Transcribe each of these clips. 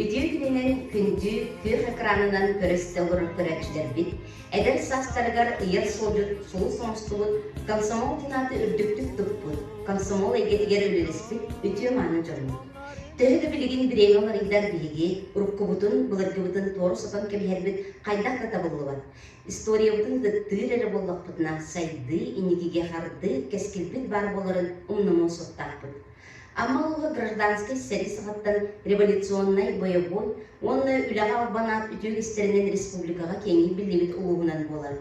Үтүө күнүнэн күндү күөх экранынан көрөстө олорор көрөөччүлэрбит эдэр саастарыгар ыйар суолдьут сулус оҥостубут комсомол дьанааты үрдүктүк туппут, комсомол эйгэтигэр үлэлэспит үтүө-мааны дьоммут. Төһө да билигин бириэмэ уларыйдар биһиги уруккубутун, былыргыбытын туору сотон кэбиһэрбит хайдах да табыллыбат. Историябытын кыттыыр эрэ буоллахпытына сайдыы, инникигэ хардыы, кэскилбит баар буоларын умнумуо суохтаахпыт. Амма улууһа гражданскай сэрии саҕаттан революционнай, боевой уонна үлэҕэ албанаат үтүө кистэринэн республикаҕа киэҥник биллибит улууһунан буолар.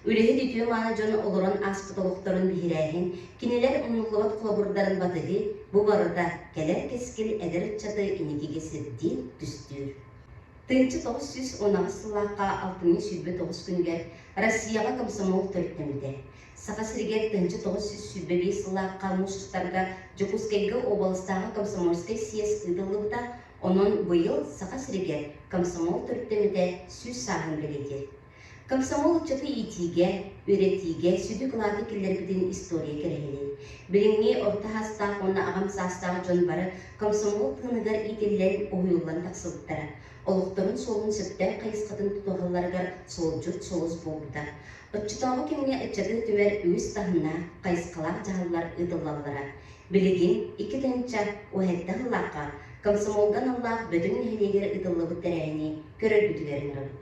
Үлэһит үтүө-мааны дьон олорон ааспыт олохторун биһирээһин, кинилэр муннуллубат холобурдарын батыһы бу барыта кэлэр кэскил эдэр ыччаты иникигэ сирдиир, түстүүр. Тыынча тоҕус сүүс унаҕас сыллаахха алтыныы сүүрбэ тоҕус күнүгэр Россияҕа комсомол төрүттэммитэ. Саха сиригэр тыһынча тоҕус сүүс сүүрбэ биэс сыллаахха муусустарга Дьокуускайга уобаластааҕы комсомольскай съезд ыытыллыбыта, онон быйыл Саха сиригэр комсомол төрүттэммитэ сүүс сааһын бэлиэтиир. Комсомол ыччаты иитиигэ, үөрэтиигэ сүдү кылааты киллэрбитин история кэрэһилин. Билиҥҥи орто саастаах уонна аҕам саастаах дьон бары комсомол тыыныгар иитиллэн, уһуйуллан тахсыбыттара. олохторун суолун сөптөөх хайысхатын тутуһалларыгар суолдьут сулус буолбута. Оччотооҕу кэмҥэ ыччаты өтүмэр үгүс таһымнаах хайысхалаах дьаһаллар ыытыллаллара. Билигин икки тыһынча уон сэттэ сыллаахха комсомолга аналлаах Бөтүҥ нэһилиэгэр ыытыллыбыт тэрээһини көрөргүтүгэр ыҥырабыт.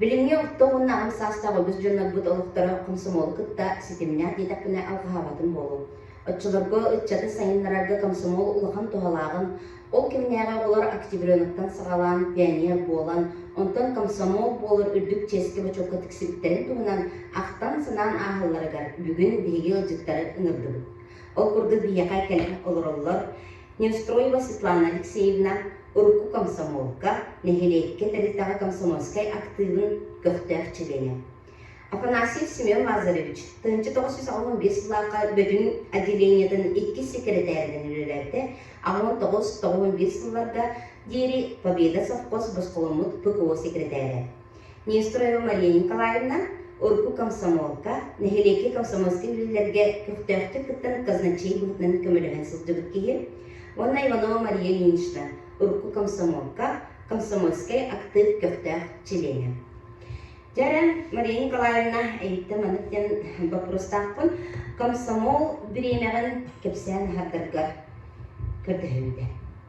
Билиҥҥи орто уонна аҕам саастаах үгүс дьоннорбут олохторо комсомолу кытта ситимнээх диэтэхпинэ алҕаһаабатым буолуо. Оччолорго ыччатын сайыннарарга комсомол улахан туһалааҕын, ол кэмнээҕи оҕолор октябренаттан саҕалаан пионер буолан, онтон комсомол буолар үрдүк чиэски-бочуокка тиксибиттэрин туһунан ахтан-санаан ааһалларыгар бүгүн биһиги ыалдьыттары ыҥырдыбыт. Ол курдук биһиэхэ кэлэн олороллор, Неспроева Светлана Алексеевна урукку комсомолка, нэһилиэккэ тэрилтэҕэ комсомольскай актыыбын көхтөөх чилиэнэ. Афанасьев Семен Лазаревич тыһыынча тоҕус сүүс аҕыс уон биир сыллаахха бөтүн отделениетын иккис секретээринэн үлэлээбитэ аҕа уон тоҕус тоҕус уон биир сылларга диэри Победа совхоз босхоломмут ПКО секретээрэ. Нестройова Мария Николаевна урукку комсомолга, нэһилиэккэ комсомольскай үлэлэргэ көхтөөхтүк кыттан казначей быһыытынан көмөлөһөн сылдьыбыт киһи уонна Иванова Мария Ильинична урукку комсомолка, комсомольскай актыып көхтөөх чилиэнэ. Дьэ эрэ, Мария Николаевна, эйиттэн маннык диэн боппуруостаахпын. Комсомол бириэмэҕин кэпсээн аһардаргар көрдөһөбүтэ.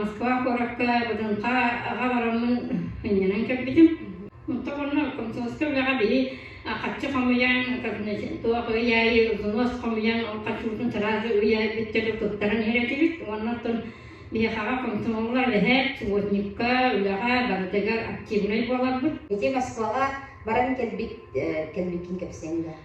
Москва куоракка Бытынха аҕа бараммын анньынан кэлбитим. Оттон онно комсомольскай үлэҕэ били хаччы хомуйан, туох ый аайы взнос хомуйан, ол хаччыбытын сразу ый аайы бүттэрэ туттаран иһэр этибит. Уонна оттон биһиэхэҕэ комсомоллар эһээт, субботникка, үлэҕэ барытыгар активнай буоларбыт. Ити Москваҕа баран кэлбит кэлбиккин кэпсээн да.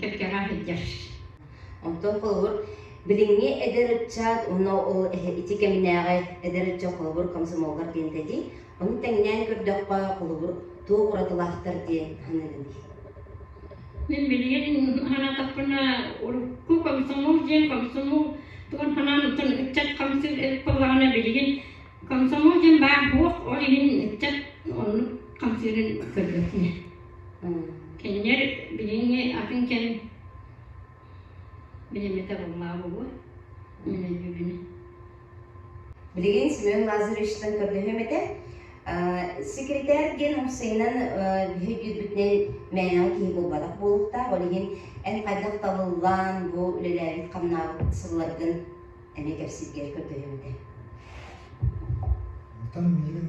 кэккэҕэ иһийдэр Оттон холобур, билиҥҥи эдэр ыччат уонна ол ити кэминээҕи эдэр ыччат холобур комсомоллар диэн этии, ону тэҥнээн көрдөххө, холобур, туох уратылаахтар диэн саныыгыный? Мин билигин санаатахпына урукку комсомол диэн комсомол тугун санаан оттон ыччат хамсыыр эбит буоллаҕына билигин комсомол диэн баар суох ол иһин ыччат оннук хамсыырын көрбөтүнэ Кинилэр билиҥҥи атын кэм билиммэтэ буоллаҕа буолуо. Мин өйдүүбүнү. Билигин Семен Лазаревичтан көрдөһүөм этэ. Секретарь диэн омсайынан биһи дүйбүтүнэн мээнэҕэ киһи буолбатах буолуохтаах. Ол иһин эн хайдах талыллаан бу үлэлээбит хамнаабыт сылларгын эмиэ кэпсииргэр көрдөһүөм этэ. Оттон миигин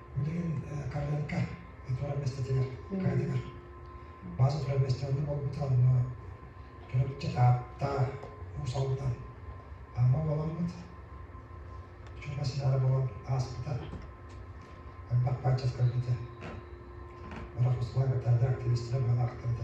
Билигин картинка туора миэстэтигэр кыайдылар. База тура миэстэҕэ буолбута онно төрөпчү тааттаа уус алдан Амма буоламмыт. Чума ситара буолан ааспыта. Элбэх бачча көрбүтэ. Бара хосулай баттаадыр активистара баалаахтарда.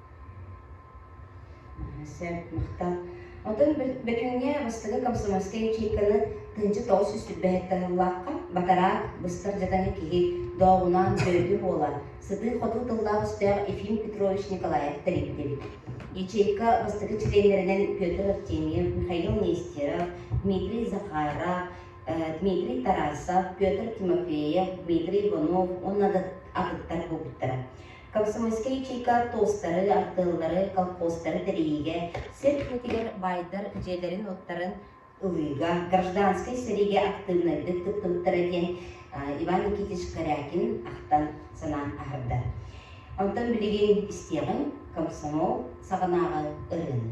Сэм, махтаал. Оттон бөтүҥҥэ бастакы комсомольскай чиикканы тыһыынча тоҕус сүүс түбэһиттэ сыллаахха батараак быстар дьатаны киһи дооҕунаан дойду буола сытыы-хотуу тыллаах-өстөөх Ефим Петрович Николаев тэрийбит эбит. Ячейка бастакы чилиэннэринэн Петр Артемьев, Михаил Нестеров, Дмитрий Захаров, Дмитрий Тарасов, Петр Тимофеев, Дмитрий Иванов уонна атыттар буолбуттара. Комсомольскай чыыка туостары, артыаллары, колхозтары тэрийиигэ, сир иһитигэр баайдар дьиэлэрин-уоттарын ылыыга, гражданскай сэриигэ актыыбынайдык туттубуттара диэн Иван Никитич Корякин ахтан санаан аһарда. Онтон билигин истиэҕиҥ комсомол саҕанааҕы ырыаны.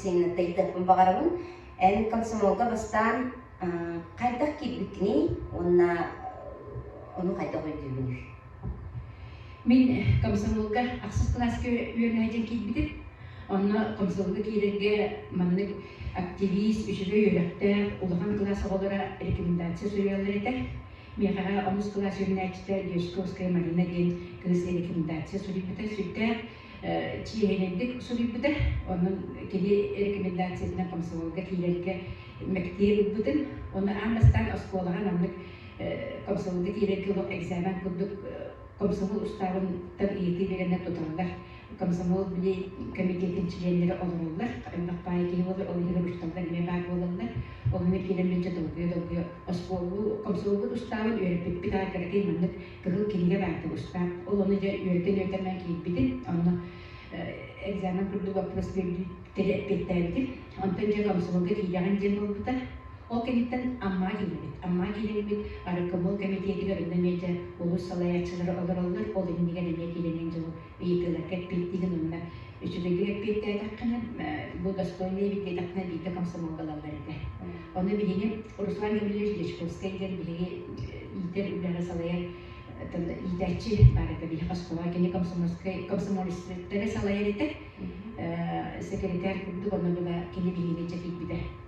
сиэнин тайдын баҕарабын эн комсомолга бастаан хайдах киирбиккиний уонна ону хайдах өйдүүбүнүй мин комсомолга ахсыс кылааска үөрэнээччин киирбитим онно комсомолга киирэргэ маннык активист үчүгэй үөрэхтээх улахан кылаас оҕолоро рекомендация суруйаллар этэ миэхэҕэ онус кылаас үөрэнээччитэ дерзковская марина диэн кыыс рекомендация суруйбута сүрдээх чиэһинэйдик суруйбута. Онон киһи рекомендациятынан комсомолга киирэргэ мэктиэ ылбытым. Ону аан бастаан оскуолаҕа маннык комсомолга киирэргэ олох экзамен курдук комсомол устаабынтан ыйытыы биэрэннэр туталлар. Комсомол били комитетин чилиэннэрэ олороллор. Элбэх баайы киһи буолар, ол иһигэр учууталлар эмиэ баар буолаллар. Ол иһигэр киирэн мин долгуйа-долгуйа оскуолу комсомолбут устаабын үөрэппиппит аргыһы маннык кыһыл кинигэ баар тубуска. Ол ону дьэ үөрэтэн-үөрэтэн киирбитим. Онно экзамен курдук боппуруос эппиэттээбитим. Онтон дьэ комсомолга тиийэҕин диэн буолбута. Ол кэнниттэн Амма киһибит. Амма киһиҥмит Арыккамол кэмитиэтигэр онно эмиэ олус салайааччылары олороллор. Ол иннигэр эмиэ киирэниэн дьоло Ыйытыыларга эппиэттиигин уонна үчүгэйдик эппиэттээтэххинэ, бу достойный эбит диэтэххинэ, биирдэ комсомолга ылаллар этэ. Ону биһиги Руслан Гаврильевич Дьячковскай диэн биһиги иитэр үлэҕэ салайар иитээччи баар этэ. Биһи Москва кини комсомольскай комсомолецтары салайар этэ. Секретарь курдук, онно была кини биһиги ыччат ииппитэ.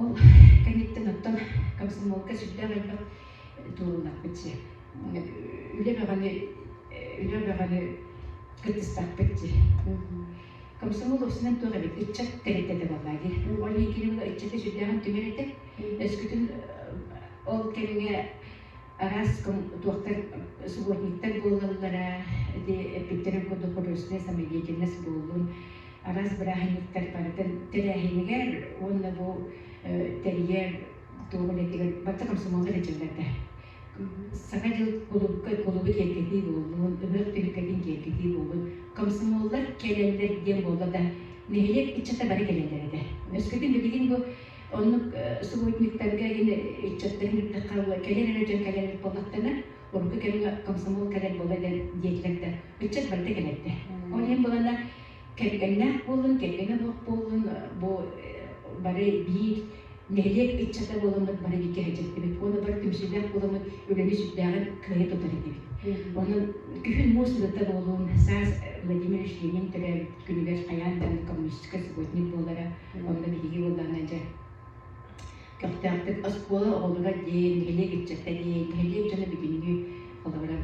Ол кэнниттэн оттон комсомолка сүрдээх элбэх туолуннарбыт дьиэ. Үлэ бөҕөнү үлэ бөҕөнү кыттыстахпыт дии. Комсомол уопсанан туох эбит ыччат тэрилтэтэ буоллаа дии. Ол иһин кини була ыччаты сүрдээҕин түмэр этэ. Өскөтүн ол кэмҥэ араас туохтар субботниктар буолаллара ити эппиттэрин курдук художественнай самодеятельность буоллун араас бырааһынньыктар барытын тэрээһинигэр уонна бу тэрийэр туох үлэтигэр барыта комсомоллар этэллэрдэ саҥа дьыл кулуупка кулуубу киэргэтии буоллун ыһыах түһүлгэтин киэргэтии буолун комсомоллар кэлэллэр диэн буолла да нэһилиэк ыччата бары кэлэллэр этэ өскөтүн билигин бу Оннук субботниктарга ин ыччаттар иһирдиххэ була кэлэр эрэ дьон кэлэр эбит буоллахтана, орукка кэмҥэ комсомол кэлэр буола дэр диэтилэр да ыччат барыта кэлэрдэ. Ол иһин булана кэргэннээх буоллун, кэргэнэ буох буоллун бу бары биир нэһилиэк ыччата буоламмыт бары бииргэ сылдьыбыт уонна бары түмсүүлээх буоламмыт үлэни сүрдээҕин кыайа тутар этибит. Онон күһүн муус сырыта буолуун саас Владимир Ильинин төрөөбүт күнүгэр хайаан да коммунистическай субботник буолара Уонна биһиги буоллаҕына дьэ көхтөөхтүк оскуола оҕолоро диэн, нэһилиэк ыччата диэн, нэһилиэк дьоно бүгүнүгү холобура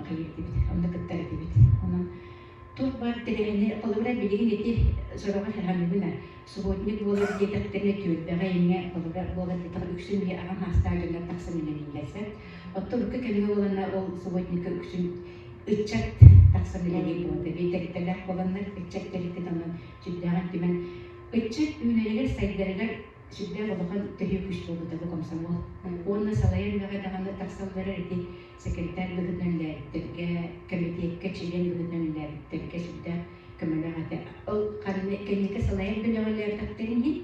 кэлиэрдибит, онно кыттар этибит. Онон туох баар тэрээһини, холобура билигин ити сороҕор хаһааммыгына субботник буолар диэтэхтэринэ түөлбэҕэ эмиэ холобура буолар диэтэҕэ үксүн биһи аҕам саастаах дьоннор тахсан үлэлииллэрсэт. Оттон урукку кэмҥэ буоланна ол субботникка үксүн ыччат тахсан үлэлиир буолта. Биирдэриттэлээх буоланнар ыччат тэрилтэтэ онон сүрдээҕин түмэн ыччат үүнэригэр сайдарыгар сүрдээх улахан төһүү күүс буолбута бу комсомол уонна салайар үлэҕэ даҕаны тахсан барар ити секретарь быһыытынан үлээбиттэргэ кэмитиэккэ чилиэн быһыытынан үлээбиттэргэ сүрдээх көмөлөөх этэ ол ханны кэнники салайар бөлөҕөлөөхтөхтөрүн иһин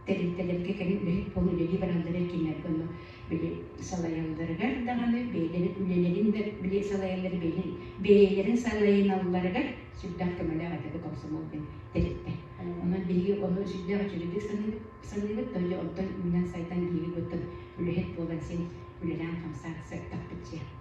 тэрилтэлэргэ кэлин үлэһит буолан үлэлии бараллара кииннэргэ онно били салайалларыгар даҕаны бэйэлэрин үлэлэрин да били салайаллар бэйэлэрин бэйэлэрин салайыналларыгар сүрдээх көмөлөөх этэ бу комсомол диэн тэрилтэ онон биһиги ону сүрдээх үчүгэйдик саныыбыт саныыбыт то оттон үүнэн сайдан иһигит оттон үлэһит буолан син үлэлээн хамсаан сырдаппыт дьиэ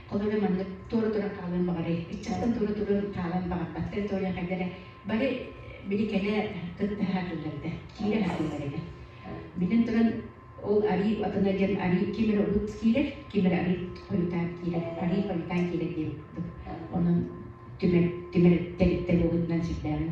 Ол эрэн маннык туора туран хаалыан баҕарай? Ыччаттан туора туран хаалан баҕарбаттар да ойахайдара бары били кэлэ кытта аһатыллар да, киирэ аһатыллар этэ. Биллэн туран ол арыы атына диэн арыы ким эрэ урут киирэр, ким эрэ арыы хойутаан киирэр, арыы хойутаан киирэр диэбит. Онон түмэр түмэр тэрилтэ буолбутунан сирдээҕин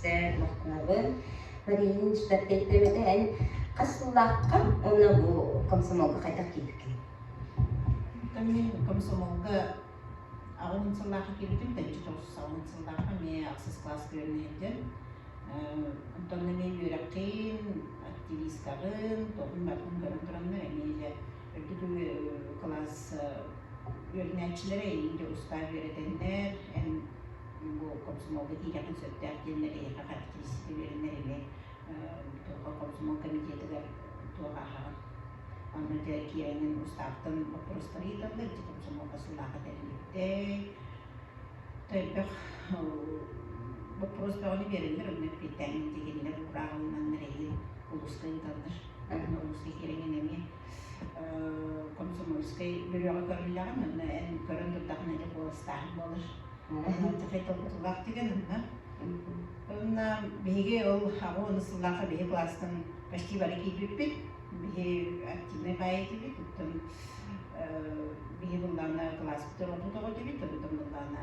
Сэр мохнаабын Маринин түспэт кэйттэбэтэ эн хас сыллаахха уонна бу комсомолга хайдах киирбиккин? Эмиэ комсомолга аҕам эн сыллаахха киирбитим тэбиччи тоҕус сыллаахха эмиэ ахсыс кылаас күөлүнэ илдьэн онтон эмиэ үөрэххин активисткаҕын тоҕун барҕын көрөн тураннар эмиэ дьэ бүгүнү кылаас үөрэнээччилэрэ инде устаа үөрэтэннэр эн бу комсомолга тиийдэххин сөптөөх диэннэр эйиэхэ характеристика үөрэннэр ини туоха комсомол комитетыгар туоҕаһаҕын онно киэрэҥин устааптан боппурустары ыыталлар ити комсомолга сылаах этэллибиттэй тойбөх боппуруос бөҕөнү биэрэллэр онно киэтээн тигиннэр урааҕыланнар эйи улуска ыыталлар Нургутскай кэриҥин эмиэ комсомольскай бөлөҕө көрүллэҕэ манна эн көрөн турдаҕына эрэ куоластааһын буолар. Хай толкутуулаах деген онно. Онна биһиги ол аҕа уон сыллаахха биһи класстан почти бары киирбиппит. Биһи активнай баай этибит, оттон биһи быллаана класспыт тороппут оҕо этибит, оттон быллаана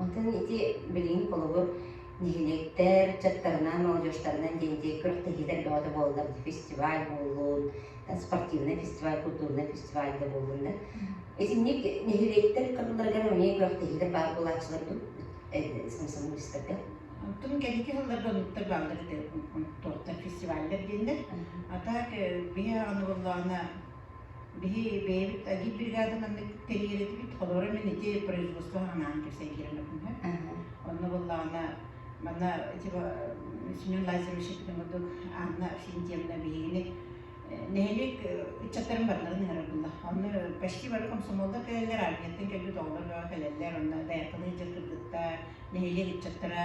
Онтон ити билигин холобур нэһилиэктэр ыччаттарынан, молодежтарынан диэн ити күрэхтэһиилэр бөҕөтө буоллар фестиваль буоллун, спортивнай фестиваль, культурнай фестиваль да буоллун да. Итинник нэһилиэктэр кыһылларыгар эмиэ күрэхтэһиилэр баар буолааччылар дуо? Самсамын быыстарга. Онтон кэнники сылларга онуттар бааллар ити туохтар фестиваллар диэннэр. А так биһи аны буоллаҕына Биһи бэйэбит АГИ бригадан маннык тэрийэр этибит. Холуора мин ити производство анаан кэлсэн киирэн баппыҥҥа. Онно буоллаҕына манна ити Семен Лазаревич эппитин курдук Анна Авсентьевна биһигини нэһилиэк ыччаттарын барыларын ыҥырар буолла. Онно почти бары комсомолдар кэлэллэр, армияттан кэлбит оҕолор баҕа кэлэллэр. Онно дайаптаныы дьыл кыргыттар, нэһилиэк ыччаттара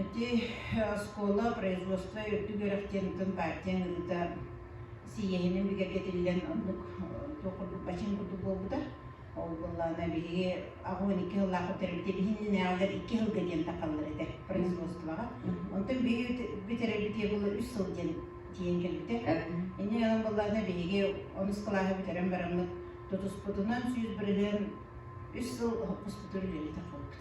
Ити оскуола производство үрдүк үөрэхтиэриттэн партия ыҥырыыта сийиэһинэн бигэргэтиллэн оннук туох курдук бачыҥ курдук буолбута. Ол буоллаҕына биһиги аҕабыт икки сыллаахпыт төрөппүтэ биһиннинээҕилэр икки сылга диэн тахаллар этэ производствоҕа. Онтон биһиги бүтэрэрбитигэр буолла үс сыл диэн тиийэн кэлбитэ. Инньэ гынан буоллаҕына биһиги онус кылааһы бүтэрэн бараммыт тутуспутунан сүүс бырыһыан үс сыл хоспутур үлэлии тахпыппыт.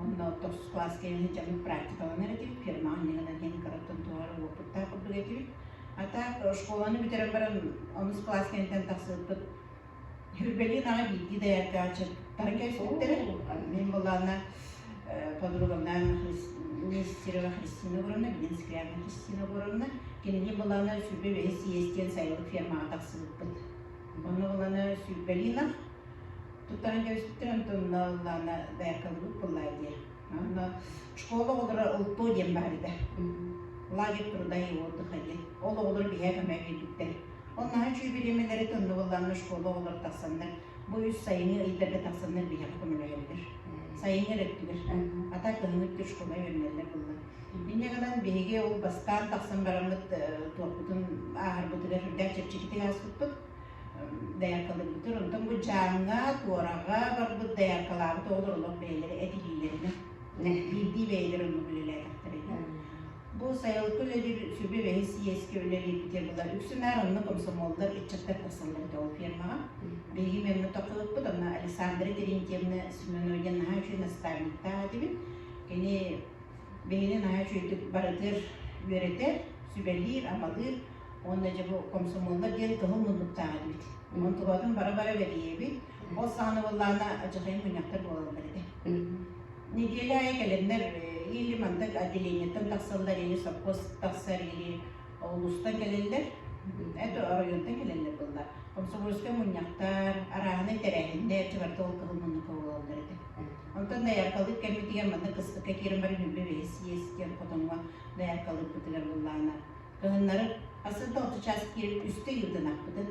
Онно тус кылаас кэлэн дьаһык практикаланар этим, фермаҕа иннигинэн диэн кыраттан туһар уопуттаах курдук этибит. А так школаны бүтэрэн баран онус кылаас кэнниттэн тахсыппыт. Хүрбэлиин аҕа биирдии дайааркаҕа чыттарын кэпситтэрэ. Мин былаана подруганнаан Нестерова Христина Боровна, билин Скрябина Христина Боровна. Кинини былаана сүрбэ бэһис иэс диэн сайылык фермаҕа тахсыбыппыт. Ону былаана сүрбэлиин Утары кэбиспиттэрим тумналлана бэркалыбыт буллай диэ. Онно школа оҕолоро ылтуу диэн барыыда. Лагерь труда и отдыха диэн. Ол оҕолор биһээ көмө кэлбиттэр. Оннаһа чүүбилимилэри туннубулланны школа оҕолор тахсаннар, бу үс сайыҥҥы ыйдарга тахсаннар биһэҕэ көмөлөһөллөр. Сайыҥҥы өрөттүгэр. А так кыһыҥҥыттыр школа үөрүнэллэр булла. Инньэ гынан биһиги ол бастаан тахсан бараммыт туохпутун ааһарбытыгар үрдээх чэпчэкитик ааспыппыт. Дэяркалыыбытыр онтон Быдьааҥҥа, Туораҕа барбыт дэяркалаабыт оҕолор олох бэйэлэрэ этилиилэринэ биирдии бэйэлэрэ оннук үлэлээтэхтэрэ үһү. Бу сайылыкка үлэлиир сүбэ бэһис сийиэскэ үлэлиирбитэ была үксү наар онно комсомоллар, ыччаттар тахсаллар этэ ол фермаҕа. Биһиги Мемҥа тохтоппут, онно Александра Терентьевна Семеновья наһаа үчүгэй наставниктаах этибит. Кини биһини наһаа үчүгэйдик барытыгар үөрэтэр, сүбэлиир, амалыыр Уонна дьэ бу комсомоллар диэн кыһыл муннуктаах эбит. Онон туруотун бары-бары бэрийэбит. Ол саҕана буоллаана адьырхайын мунньахтар буолаллар этэ. Неделя айа кэлэннэр или манта отделениеттан тахсаллар или совхоз тахсар или улуустан кэлэллэр это оройуонтан кэлэллэр буоллар комсомольскай мунньахтар арааһынай тэрээһиннэр чыбарта ол кыһыл муннукка буолаллар этэ онтон даяркалык кэммитигэр манна кыстыкка киирэн баран үбэ бэһис иэс диэн хотоҥҥо даяркалыкпытыгар буоллаана Кыһыннары сарсыарда орто чааскиир үстэ ыйбытын ахпытын,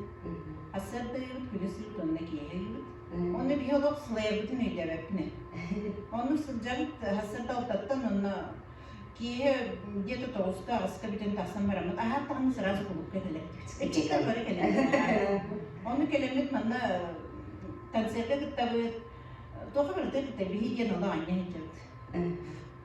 сарсыарда ыйбыт күнүс ыйбыт уонна киэһэ ыйбыт. Онно биһи олох сылайарбытын өйдөөбөппүнэ. Онно сылдьан сарсыарда алтаттан онно киэһэ где-то тоҕуста аҕыска бүтэн тахсан бараммыт аһааттаҕына сразу кулуупка кэлэрдибит. Иччиктэн бары кэлэрбит. Онно кэлэммит манна концертка кыттабыт. Туоха барыта кытта биһи диэн олох анньа сылдьабыт.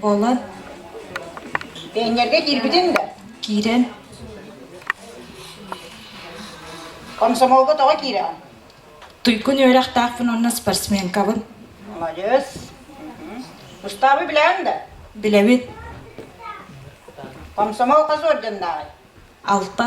Буолар. Эҥэргэ киирбитин да? Киирэн. Комсомолга тоҕо киирэҕин? Туйкун үөрэхтаахпын уонна спортсменкабын. Молодец. Устаабы билэҕин да? Билэбин. Комсомол хас орденнааҕый? Алта.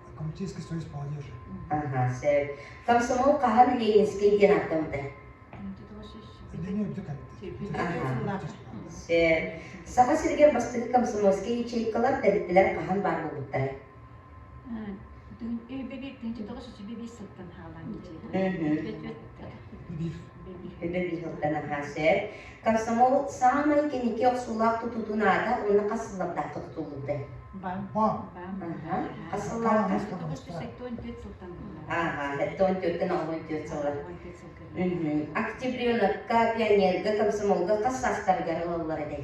комитетский союз молодежи. Ага, сөп. Комсомол хаһан Ленинский диэн ааттамыта. Отделение Ага. Сөп. Саха сиригэр бастакы комсомольскай ячейкалар тэрилтэлэр хаһан баар буолбуттара. Мгм. Өлөр ыһыылтан аһаасэр. Комсомол саамай кэники охсуулаах тутуутун аата уонна хас сыллардаахха тутуллубута? Хас сыллардаах? Ага, это он теттен албан тет сыла. Октябренокка пионерга комсомолга хас састарыгар ылаллар эдей?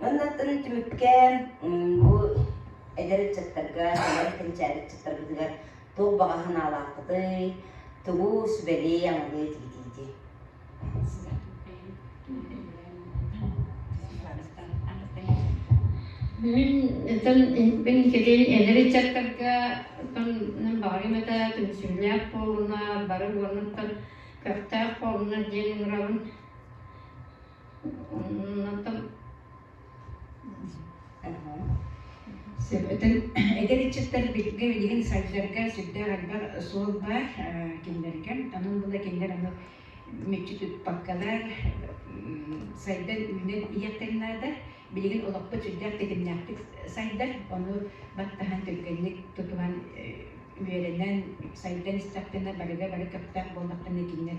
Ыннаттарын түмүккээн бу эдэр ыччаттарга, сэмэй кэнчээри ыччаттарбытыгар туох баҕа санаалааххытый, тугу сүбэлии, аналыы тигитиити? Мин кэлин эдэр ыччаттарга тоннан баҕарым этэ түмсүүлээх буолуна, бары буолунуттан көхтөөх буолуна диэн ыҥырабын. Оттон Сөбөтүн эдэр ыччаттар биһиргэ билигин сайдарга сүрдээх элбэх суол баар кинилэригэр онон була кинилэр ону мүччү тутпаккалар сайдан үүнэн иһиэхтэрин наада билигин олохпут сүрдээх тэтимнээхтик сайдар ону баттаһан түргэнник тутуһан үөрэнэн сайдан истэхтэнэ барыга бары көхтөөх буоллахтына кинилэр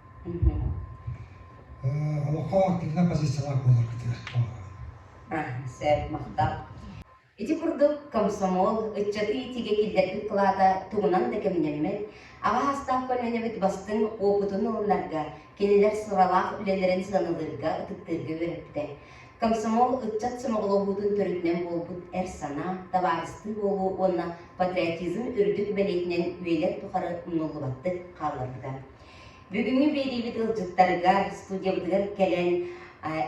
Олоххо активнай позициялаах буолар кытыгар. Сөп махтал. Ити курдук комсомол ыччаты иитиигэ киллэрбит кылаата тугунан да кэмнэммэт, аҕа саастаах көлүөнэбит бастыҥ опытын ылынарга, кинилэр сыралаах үлэлэрин сыаналыырга, ытыктыырга үөрэппитэ. Комсомол ыччат сомоҕолоһуутун төрүтүнэн буолбут эр санаа, табаарыстыы буолуу уонна патриотизм үрдүк бэлиэтинэн үйэлэр тухары умнуллубаттык хаалларбыта. Бүгүҥҥү биэриибит ыалдьыттарыгар, студиябытыгар кэлэн,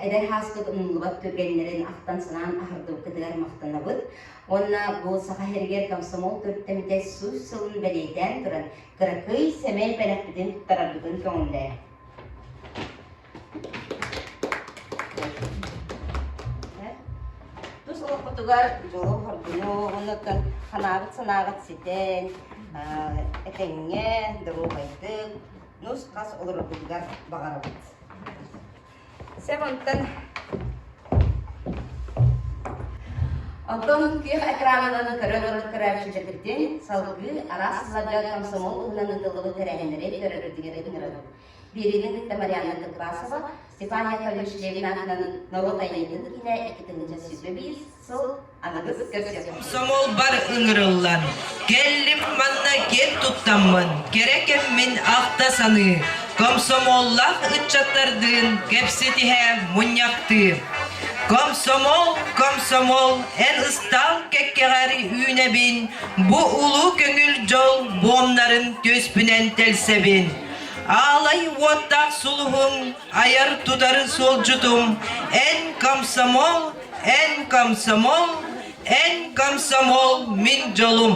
эдэр һааспыт умнуллубат түргэннэрин ахтан-санаан аһардыбыккытыгар махтанабыт. Уонна бу Саха сиригэр комсомол төрүттэммитэ сүүс сылын бэлиэтээн туран, кыракый сэмэй бэлэхпитин туттарарбытын көҥүллээн. Тус олохпутугар дьолу хоргунуоҕунуттан ханаабыт санааҕыт ситэн, этэҥҥэ, доруобайдык, нус-хас олороргутугар баҕарабыт. Сэм онтон Онтон күйэх экраанынан көрөн олорор көрөөччүлэргитин салгыы араас сылларга комсомол уһунан ыытыллыбыт тэрээһиннэри көрөргүтүгэр ыҥырабын. Биэриини кытта Марианна Тыквасова, Степан Яковлевич Левин аатынан норуот айымньытын киинэ икки тыһыынча сүүс биэс сыл аныгыс көрсүөхпүт. Комсомолбар ыҥырыллан, кэллим манна киэн туттаммын, кэрэ кэммин ахта-саныы, комсомоллаах ыччаттардыын кэпсэтиһэ мунньахтыыр. Комсомол, комсомол, эн ыстаал кэккэҕэр үүнэбин, бу улуу көҥүл дьол буомнарын түөспүнэн тэлсэбин. Аалай уоттаах сулуһуҥ, айар-тутар суолдьутум, эн комсомол, эн комсомол, эн комсомол мин дьолум.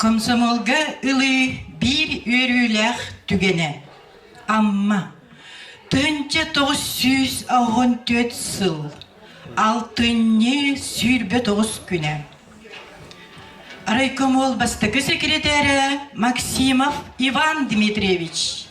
Комсомолга ылыы биир үөрүүлээх түгэнэ Амма Төнчө тоҕус сүүс оҕон түөрт сыл алтынньы сүүрбэ тоҕус күнэ райкомол бастакы секретэрэ Максимов Иван Дмитриевич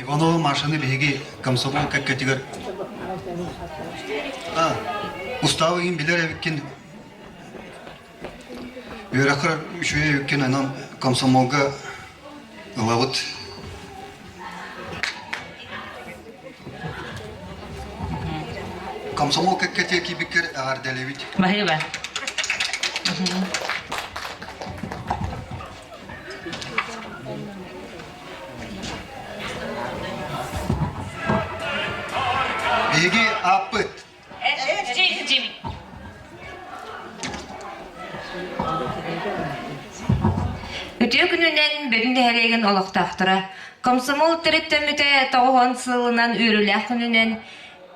Иванова Машаны биһиги комсомол кэккэтигэр устаабы кин билер эбиккин үөрэххэр үчүгэй эбиккин онон комсомолга ылабыт комсомол кэккэтиэ киибиккэр эҕэрдэлэбит Баһыыба. Биһиги ааппыт Үтүө күнүнэн бүгүн нэһилиэгин олохтоохторо! Комсомол төрүттэммитэ тоҕуһун сылынан үөрүүлээх күнүнэн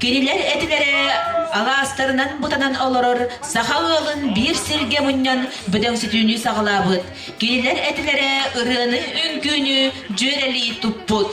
Кинилэр этилэрэ алаастарынан бутанан олорор саха ыалын биир сиргэ мунньан бөдөҥсүтүүнү саҕалаабыт. Кинилэр этилэрэ ырыаны үҥкүүнү дьүөрэлии туппут.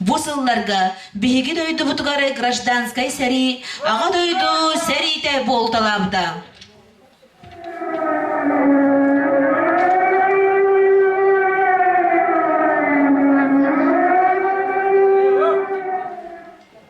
Бу сылларга биһиги дойдубутугар гражданскай сэрии Аҕа дойду сэриитэ буолталаабыта.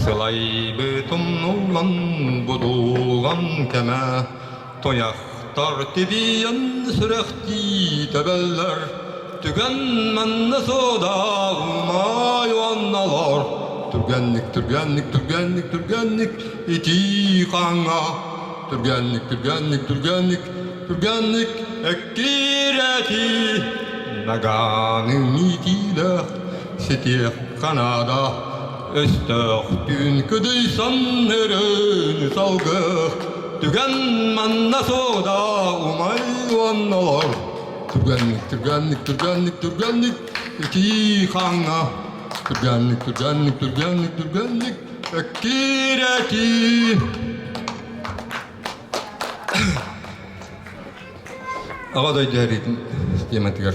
Сылайбыт умнуллан будуллан кэмэ Туйахтар тибийэн сүрэхтии тэбэллэр Түгэн манна содалмай уонналар Түргэнник, түргэнник, түргэнник, түргэнник итии хаҥа Түргэнник, түргэнник, түргэнник, түргэнник эккирэтии Нагааны иитиилээх ситиэх канада Өстөөхтүүн кыдыйсан өрөөнү салгыах Түгэн манна сooда умай уонналар Түргэнник, түргэнник, түргэнник, түргэнник Итии хаҥа Түргэнник, түргэнник, түргэнник, түргэнник Эккирэтии Аҕа дойду сэриитин тематыгар